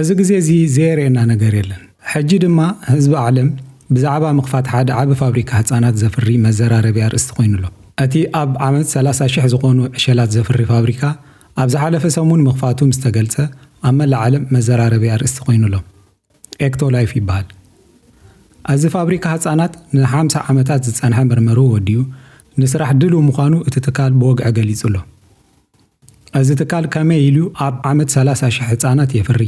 እዚ ግዜ እዚ ዘየርእየና ነገር የለን። ሕጂ ድማ ህዝቢ ዓለም ብዛዕባ ምኽፋት ሓደ ዓቢ ፋብሪካ ህጻናት ዘፍሪ መዘራረቢ ኣርእስቲ ኮይኑ ኣሎ። እቲ ኣብ ዓመት ሰላሳ ሽሕ ዝኾኑ ዕሸላት ዘፍሪ ፋብሪካ ኣብ ዝሓለፈ ሰሙን ምኽፋቱ ምስ ተገልጸ ኣብ መላእ ዓለም መዘራረቢ ኣርእስቲ ኮይኑ ኣሎ። ኤክቶ ላይፍ ይበሃል። ኣዚ ፋብሪካ ህጻናት ንሓምሳ ዓመታት ዝጸንሐ መርመርኡ ወዲኡ ንስራሕ ድልው ምዃኑ እቲ ትካል ብወግዒ ገሊጹ ኣሎ። ኣዚ ትካል ከመይ ኢሉ ኣብ ዓመት ሰላሳ ሽሕ ህጻናት የፍሪ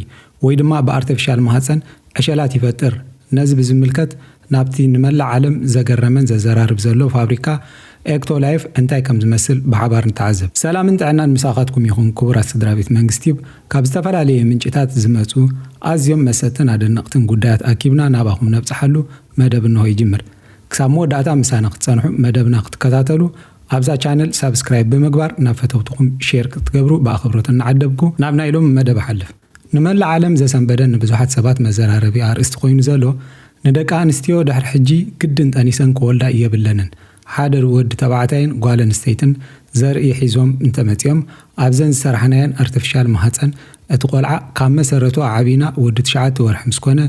ወይ ድማ ብኣርተፊሻል ማህጸን ዕሸላት ይፈጥር። ነዚ ብዝምልከት ናብቲ ንመላእ ዓለም ዘገረመን ዘዘራርብ ዘሎ ፋብሪካ ኤክቶ ላይፍ እንታይ ከም ዝመስል ብሓባር ንተዓዘብ። ሰላምን ጥዕናን ምሳኻትኩም ይኹን ክቡራት ስድራቤት መንግስቲዩብ ካብ ዝተፈላለየ ምንጭታት ዝመጹ ኣዝዮም መሰጥትን ኣደነቕትን ጉዳያት ኣኪብና ናባኹም ነብጽሓሉ መደብ እነሆ ይጅምር ክሳብ መወዳእታ ምሳና ክትጸንሑ መደብና ክትከታተሉ ኣብዛ ቻነል ሳብስክራይብ ብምግባር ናብ ፈተውትኹም ሼር ክትገብሩ ብኣኸብሮት እናዓደብኩ ናብ ናይ ሎሚ መደብ እሓልፍ። ንመላእ ዓለም ዘሰንበደን ንብዙሓት ሰባት መዘራረቢ ኣርእስቲ ኮይኑ ዘሎ፣ ንደቂ ኣንስትዮ ድሕሪ ሕጂ ግድን ጠኒሰን ክወልዳ የብለንን፣ ሓደ ወዲ ተባዕታይን ጓል ኣንስተይትን ዘርኢ ሒዞም እንተመጺኦም ኣብዘን ዝሰራሕናየን ኣርተፊሻል ማህጸን እቲ ቆልዓ ካብ መሰረቱ ኣዕቢና ወዲ ትሽዓተ ወርሒ ምስ ኮነ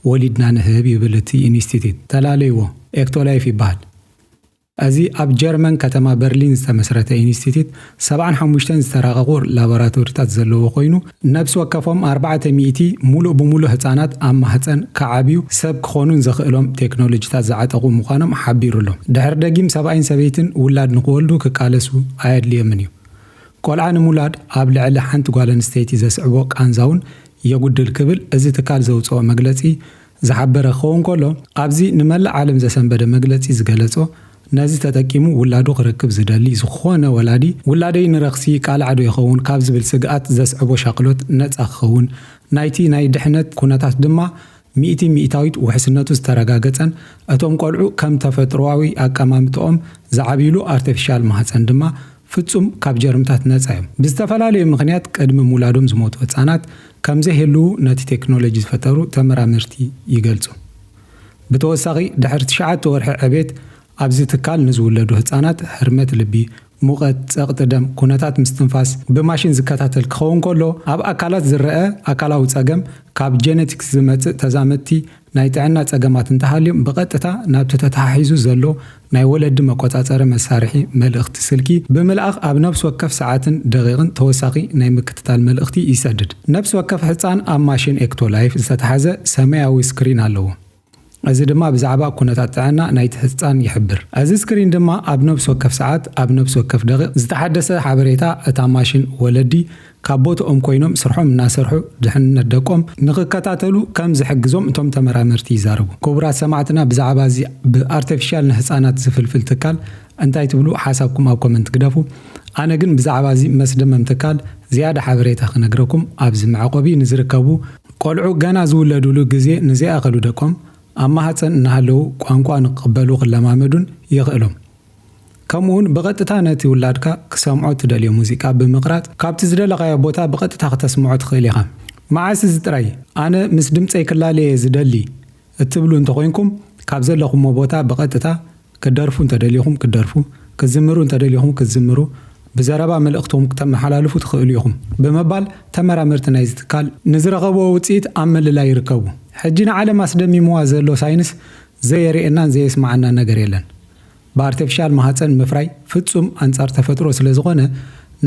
ወሊድና ንህብ ይብል እቲ ኢንስቲትዩት። ተላለይዎ፣ ኤክቶላይፍ ይበሃል። እዚ ኣብ ጀርመን ከተማ በርሊን ዝተመስረተ ኢንስቲትዩት ሰብዓን ሓሙሽተን ዝተራቐቑ ላቦራቶሪታት ዘለዎ ኮይኑ ነብሲ ወከፎም ኣርባዕተ ሚእቲ ሙሉእ ብሙሉእ ህፃናት ኣብ ማህፀን ክዓብዩ ሰብ ክኾኑን ዘኽእሎም ቴክኖሎጂታት ዝዓጠቑ ምዃኖም ሓቢሩ'ሎ። ድሕሪ ደጊም ሰብኣይን ሰበይትን ውላድ ንኽወልዱ ክቃለሱ ኣየድልዮምን እዩ። ቆልዓ ንምውላድ ኣብ ልዕሊ ሓንቲ ጓል ኣንስተይቲ ዘስዕቦ ቃንዛ'ውን የጉድል ክብል እዚ ትካል ዘውፅኦ መግለፂ ዝሓበረ ክኸውን ከሎ፣ ኣብዚ ንመላእ ዓለም ዘሰንበደ መግለጺ ዝገለጾ፣ ነዚ ተጠቂሙ ውላዱ ክረክብ ዝደሊ ዝኾነ ወላዲ፣ ውላደይ ንረኽሲ ይቃላዕ'ዶ ይኸውን ካብ ዝብል ስግኣት ዘስዕቦ ሻቕሎት ነጻ ክኸውን፣ ናይቲ ናይ ድሕነት ኩነታት ድማ ሚእቲ ሚእታዊት ውሕስነቱ ዝተረጋገጸን እቶም ቆልዑ ከም ተፈጥሮኣዊ ኣቀማምጥኦም ዝዓብይሉ ኣርተፊሻል ማህጸን ድማ ፍጹም ካብ ጀርምታት ነጻ'ዮም። ብዝተፈላለዩ ምኽንያት ቅድሚ ምውላዶም ዝሞቱ ህጻናት ከምዘይህልዉ ነቲ ቴክኖሎጂ ዝፈጠሩ ተመራመርቲ ይገልጹ። ብተወሳኺ ድሕሪ ትሽዓተ ወርሒ ዕቤት ኣብዚ ትካል ንዝውለዱ ህጻናት ህርመት ልቢ፣ ሙቐት፣ ጸቕጢ ደም፣ ኩነታት ምስትንፋስ ብማሽን ዝከታተል ክኸውን ከሎ ኣብ ኣካላት ዝረኣ ኣካላዊ ጸገም ካብ ጀነቲክስ ዝመጽእ ተዛመድቲ ናይ ጥዕና ጸገማት እንተሃልዮም ብቐጥታ ናብቲ ተተሓሒዙ ዘሎ ናይ ወለዲ መቆጻጸሪ መሳርሒ መልእኽቲ ስልኪ ብምልኣኽ ኣብ ነብሲ ወከፍ ሰዓትን ደቒቕን ተወሳኺ ናይ ምክትታል መልእኽቲ ይሰድድ። ነብሲ ወከፍ ሕጻን ኣብ ማሽን ኤክቶላይፍ ዝተታሕዘ ሰመያዊ ስክሪን ኣለዎ። እዚ ድማ ብዛዕባ ኩነታት ጥዕና ናይቲ ሕጻን ይሕብር። እዚ ስክሪን ድማ ኣብ ነብሲ ወከፍ ሰዓት ኣብ ነብሲ ወከፍ ደቒቕ ዝተሓደሰ ሓበሬታ እታ ማሽን ወለዲ ካብ ቦትኦም ኮይኖም ስርሖም እናሰርሑ ድሕንነት ደቆም ንኽከታተሉ ከም ዝሕግዞም እቶም ተመራመርቲ ይዛረቡ። ክቡራት ሰማዕትና ብዛዕባ እዚ ብኣርተፊሻል ንህፃናት ዝፍልፍል ትካል እንታይ ትብሉ ሓሳብኩም ኣብ ኮመንት ግደፉ። ኣነ ግን ብዛዕባ እዚ መስደመም ትካል ዝያዳ ሓበሬታ ክነግረኩም ኣብዚ መዕቆቢ ንዝርከቡ፣ ቆልዑ ገና ዝውለዱሉ ግዜ ንዘይኣኸሉ ደቆም ኣብ ማህፀን እናሃለዉ ቋንቋ ንክቕበሉ ክለማመዱን የኽእሎም። ከምኡውን ብቐጥታ ነቲ ውላድካ ክሰምዖ እትደልዮ ሙዚቃ ብምቕራጽ ካብቲ ዝደለኻዮ ቦታ ብቐጥታ ክተስምዖ ትኽእል ኢኻ። መዓስ እዚ ጥራይ ኣነ ምስ ድምጸይ ክላለ እየ ዝደሊ እትብሉ እንተ ኾይንኩም፣ ካብ ዘለኹሞ ቦታ ብቐጥታ ክትደርፉ እንተ ደሊኹም ክትደርፉ፣ ክትዝምሩ እንተ ደሊኹም ክትዝምሩ፣ ብዘረባ መልእኽትኹም ክተመሓላልፉ ትኽእሉ ኢኹም ብምባል ተመራመርቲ ናይዚ ትካል ንዝረኸብዎ ውጽኢት ኣብ ምልላይ ይርከቡ። ሕጂ ንዓለም ኣስደሚምዋ ዘሎ ሳይንስ ዘየርእየናን ዘየስመዓናን ነገር የለን። ብኣርተፊሻል ማህጸን ምፍራይ ፍጹም ኣንጻር ተፈጥሮ ስለ ዝኾነ፣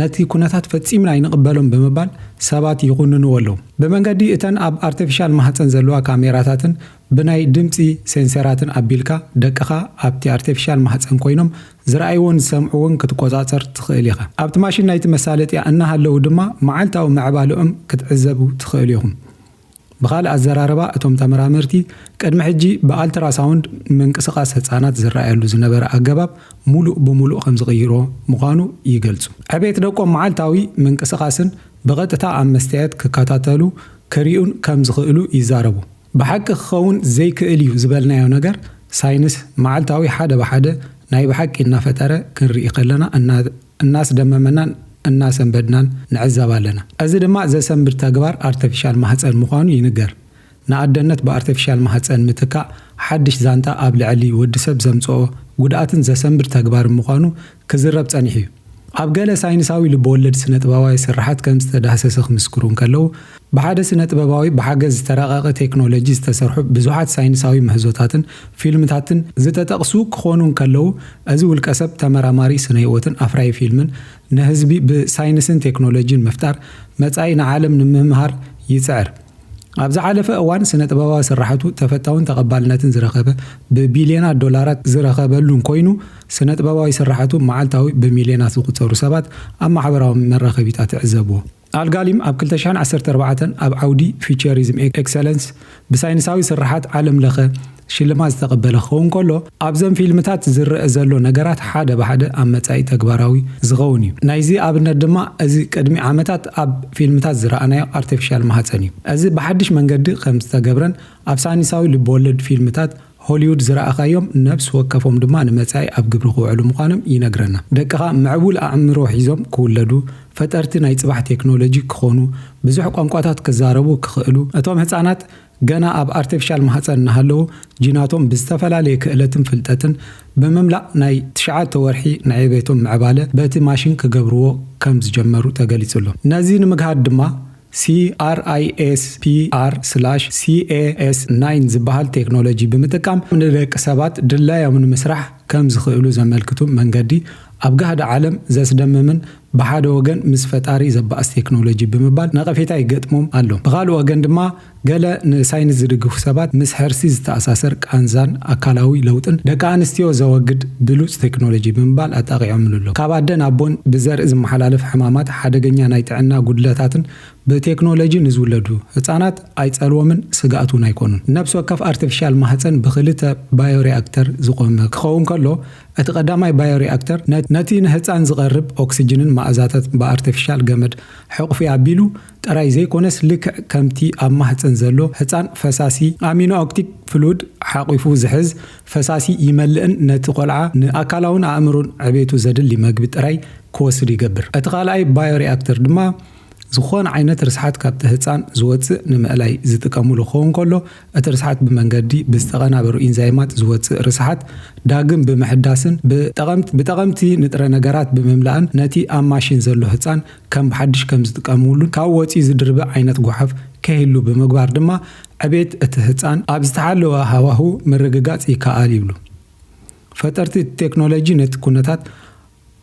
ነቲ ኩነታት ፈጺምና ኣይንቕበሎን ብምባል ሰባት ይኹንንዎ ኣለዉ። ብመንገዲ እተን ኣብ ኣርተፊሻል ማህጸን ዘለዋ ካሜራታትን ብናይ ድምጺ ሴንሰራትን ኣቢልካ፣ ደቅኻ ኣብቲ ኣርተፊሻል ማህጸን ኮይኖም ዝርኣይዎን ዝሰምዕዎን ክትቆጻጸር ትኽእል ኢኻ። ኣብቲ ማሽን ናይቲ መሳለጥያ እናሃለዉ ድማ መዓልታዊ ምዕባለኦም ክትዕዘቡ ትኽእሉ ኢኹም። ብኻልእ ኣዘራርባ እቶም ተመራመርቲ ቅድሚ ሕጂ ብኣልትራሳውንድ ምንቅስቓስ ህጻናት ዝረኣየሉ ዝነበረ ኣገባብ ሙሉእ ብሙሉእ ከምዝቕይሮ ምዃኑ ይገልጹ። ዕቤት ደቆም መዓልታዊ ምንቅስቓስን ብቐጥታ ኣብ መስትያየት ክከታተሉ ክሪኡን ከምዝኽእሉ ይዛረቡ። ብሓቂ ክኸውን ዘይክእል እዩ ዝበልናዮ ነገር ሳይንስ መዓልታዊ ሓደ ብሓደ ናይ ብሓቂ እናፈጠረ ክንርኢ ከለና እና እናስደመመናን እናሰንበድናን ንዕዘብ ኣለና። እዚ ድማ ዘሰንብድ ተግባር ኣርተፊሻል ማህጸን ምዃኑ ይንገር። ንኣደነት ብኣርተፊሻል ማህጸን ምትካእ ሓድሽ ዛንታ ኣብ ልዕሊ ወድሰብ ዘምጽኦ ጉድኣትን ዘሰንብድ ተግባርን ምዃኑ ክዝረብ ጸኒሑ'ዩ። ኣብ ገለ ሳይንሳዊ ልበወለድ ስነጥበባዊ ስርሓት ከም ዝተዳህሰሰ ክምስክሩ እንከለዉ፣ ብሓደ ስነ-ጥበባዊ ብሓገዝ ዝተራቐቐ ቴክኖሎጂ ዝተሰርሑ ብዙሓት ሳይንሳዊ ምህዞታትን ፊልምታትን ዝተጠቕሱ ክኾኑ እንከለዉ፣ እዚ ውልቀሰብ ተመራማሪ ስነ-ህይወትን ኣፍራዪ ፊልምን ንህዝቢ ብሳይንስን ቴክኖሎጂን ምፍጣር መጻኢ ንዓለም ንምምሃር ይጽዕር። ኣብ ዝሓለፈ እዋን ስነ-ጥበባዊ ስርሓቱ ተፈታውን ተቐባልነትን ዝረኸበ ብቢልዮናት ዶላራት ዝረኸበሉን ኮይኑ፣ ስነ-ጥበባዊ ስርሓቱ መዓልታዊ ብሚልዮናት ዝቑጸሩ ሰባት ኣብ ማሕበራዊ መራኸቢታት ይዕዘብዎ። ኣልጋሊም ኣብ ክልተ ሽሕን ዓሰርተ ኣርባዕተን ኣብ ዓውዲ ፊውቸሪዝም ኤክሰለንስ ብሳይንሳዊ ስርሓት ዓለም ለኸ ሽልማት ዝተቐበለ ክኸውን ከሎ፣ ኣብዘን ፊልምታት ዝረኣ ዘሎ ነገራት ሓደ ብሓደ ኣብ መጻኢ ተግባራዊ ዝኸውን እዩ። ናይዚ ኣብነት ድማ እዚ ቅድሚ ዓመታት ኣብ ፊልምታት ዝረኣናዮ ኣርተፊሻል ማህጸን እዩ። እዚ ብሓድሽ መንገዲ ከም ዝተገብረን ኣብ ሳይንሳዊ ልብ-ወለድ ፊልምታት ሆሊዉድ ዝረኣኻዮም ነብሲ ወከፎም ድማ ንመጻኢ ኣብ ግብሪ ክውዕሉ ምዃኖም ይነግረና። ደቅኻ ምዕቡል ኣእምሮ ሒዞም ክውለዱ፣ ፈጠርቲ ናይ ጽባሕ ቴክኖሎጂ ክኾኑ፣ ብዙሕ ቋንቋታት ክዛረቡ ክኽእሉ፣ እቶም ህጻናት ገና ኣብ ኣርተፊሻል ማህጸን እናሃለዉ ጂናቶም ብዝተፈላለየ ክእለትን ፍልጠትን ብምምላእ ናይ ትሽዓተ ወርሒ ናይ ዕቤቶም ምዕባለ በቲ ማሽን ክገብርዎ ከም ዝጀመሩ ተገሊጹ'ሎ። ነዚ ንምግሃድ ድማ CRISPR/Cas9 ዝበሃል ቴክኖሎጂ ብምጥቃም ንደቂ ሰባት ድላዮም ንምስራሕ ከም ዝኽእሉ ዘመልክቱ መንገዲ ኣብ ጋህዲ ዓለም ዘስደምምን ብሓደ ወገን ምስ ፈጣሪ ዘባእስ ቴክኖሎጂ ብምባል ነቐፌታ ይገጥሞም ኣሎ። ብኻልእ ወገን ድማ፣ ገለ ንሳይንስ ዝድግፉ ሰባት ምስ ሕርሲ ዝተኣሳሰር ቃንዛን ኣካላዊ ለውጥን ደቂ ኣንስትዮ ዘወግድ ብሉጽ ቴክኖሎጂ ብምባል ኣጣቒዖምሉ ኣለዉ። ካብ ኣደ ናብ ቦን ብዘርኢ ዝመሓላለፍ ሕማማት፣ ሓደገኛ ናይ ጥዕና ጉድለታትን ብቴክኖሎጂ ንዝውለዱ ህጻናት ኣይጸልዎምን ስግኣት እውን ኣይኮኑን። ነብሲ ወከፍ ኣርተፊሻል ማህጸን ብኽልተ ባዮሪኣክተር ዝቖመ ክኸውን ከሎ፣ እቲ ቀዳማይ ባዮሪኣክተር ነቲ ንህጻን ዝቐርብ ኦክስጅንን መኣዛታትን ብኣርተፊሻል ገመድ ሕቝፊ ኣቢሉ፣ ጥራይ ዘይኮነስ ልክዕ ከምቲ ኣብ ማህጸን ዘሎ ህጻን ፈሳሲ ኣሚኖኦክቲክ ፍሉድ ሓቒፉ ዝሕዝ ፈሳሲ ይመልእን ነቲ ቆልዓ ንኣካላውን ኣእምሩን ዕቤቱ ዘድሊ መግቢ ጥራይ ክወስድ ይገብር። እቲ ካልኣይ ባዮሪኣክተር ድማ ዝኾነ ዓይነት ርስሓት ካብቲ ህጻን ዝወጽእ ንምእላይ ዝጥቀሙሉ ክኸውን ከሎ እቲ ርስሓት ብመንገዲ ብዝተቐናበሩ ኢንዛይማት ዝወጽእ ርስሓት ዳግም ብምሕዳስን ብጠቐምቲ ንጥረ ነገራት ብምምላእን ነቲ ኣብ ማሽን ዘሎ ህጻን ከም ብሓድሽ ከም ዝጥቀምሉን ካብ ወጺ ዝድርቢ ዓይነት ጎሓፍ ከይህሉ ብምግባር ድማ ዕቤት እቲ ህጻን ኣብ ዝተሓለወ ሃዋህው ምርግጋጽ ይከኣል ይብሉ። ፈጠርቲ እቲ ቴክኖሎጂ ነቲ ኩነታት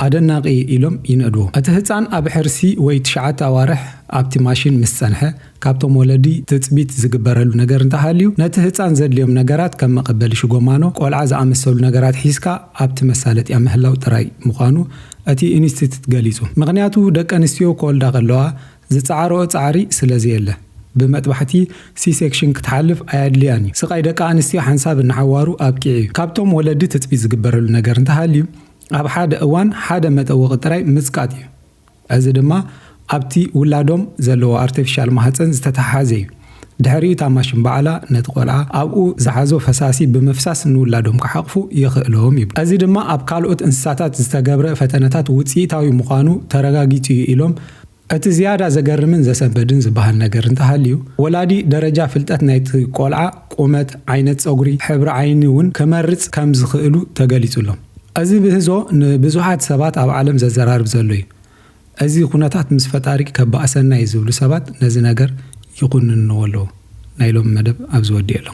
ኣደናቒ ኢሎም ይንእድዎ። እቲ ህጻን ኣብ ሕርሲ ወይ ትሽዓተ ኣዋርሕ ኣብቲ ማሽን ምስ ጸንሐ፣ ካብቶም ወለዲ ትጽቢት ዝግበረሉ ነገር እንተሃልዩ፣ ነቲ ህጻን ዘድልዮም ነገራት ከም መቐበሊ ሽጎማኖ ቆልዓ ዝኣመሰሉ ነገራት ሒዝካ ኣብቲ መሳለጥያ ምህላው ጥራይ ምዃኑ እቲ ኢንስቲትት ገሊጹ። ምኽንያቱ ደቀንስትዮ ክወልዳ ከለዋ ዝጸዓረኦ ጻዕሪ ስለዘየለ፣ ብመጥባሕቲ፣ ሲ-ሴክሽን፣ ክትሓልፍ ኣየድልያን እዩ። ስቓይ ደቂ ኣንስትዮ ሓንሳብ ንሓዋሩ ኣብቂዑ እዩ። ካብቶም ወለዲ ትጽቢት ዝግበረሉ ነገር እንተሃልዩ፣ ኣብ ሓደ እዋን ሓደ መጠወቒ ጥራይ ምጽቃጥ እዩ። እዚ ድማ ኣብቲ ውላዶም ዘለዎ ኣርተፊሻል ማህጸን ዝተተሓሓዘ እዩ። ድሕሪኡ እታ ማሽን ባዕላ ነቲ ቆልዓ ኣብኡ ዝሓዞ ፈሳሲ ብምፍሳስ ንውላዶም ክሓቕፉ የኽእሎም ይብሉ። እዚ ድማ ኣብ ካልኦት እንስሳታት ዝተገብረ ፈተነታት ውጽኢታዊ ምዃኑ ተረጋጊጹ እዩ ኢሎም። እቲ ዝያዳ ዘገርምን ዘሰንበድን ዝበሃል ነገር እንተሃልዩ፣ ወላዲ ደረጃ ፍልጠት ናይቲ ቆልዓ፣ ቁመት፣ ዓይነት ጸጉሪ፣ ሕብሪ ዓይኒ እውን ክመርጽ ከም ዝኽእሉ ተገሊጹሎም። እዚ ብህዞ ንብዙሓት ሰባት ኣብ ዓለም ዘዘራርብ ዘሎ እዩ። እዚ ኩነታት ምስ ፈጣሪ ከባእሰና እዩ ዝብሉ ሰባት ነዚ ነገር ይኹንንዎ ኣለዉ። ናይ ሎሚ መደብ ኣብዚ ወዲኤ ኣለኹ።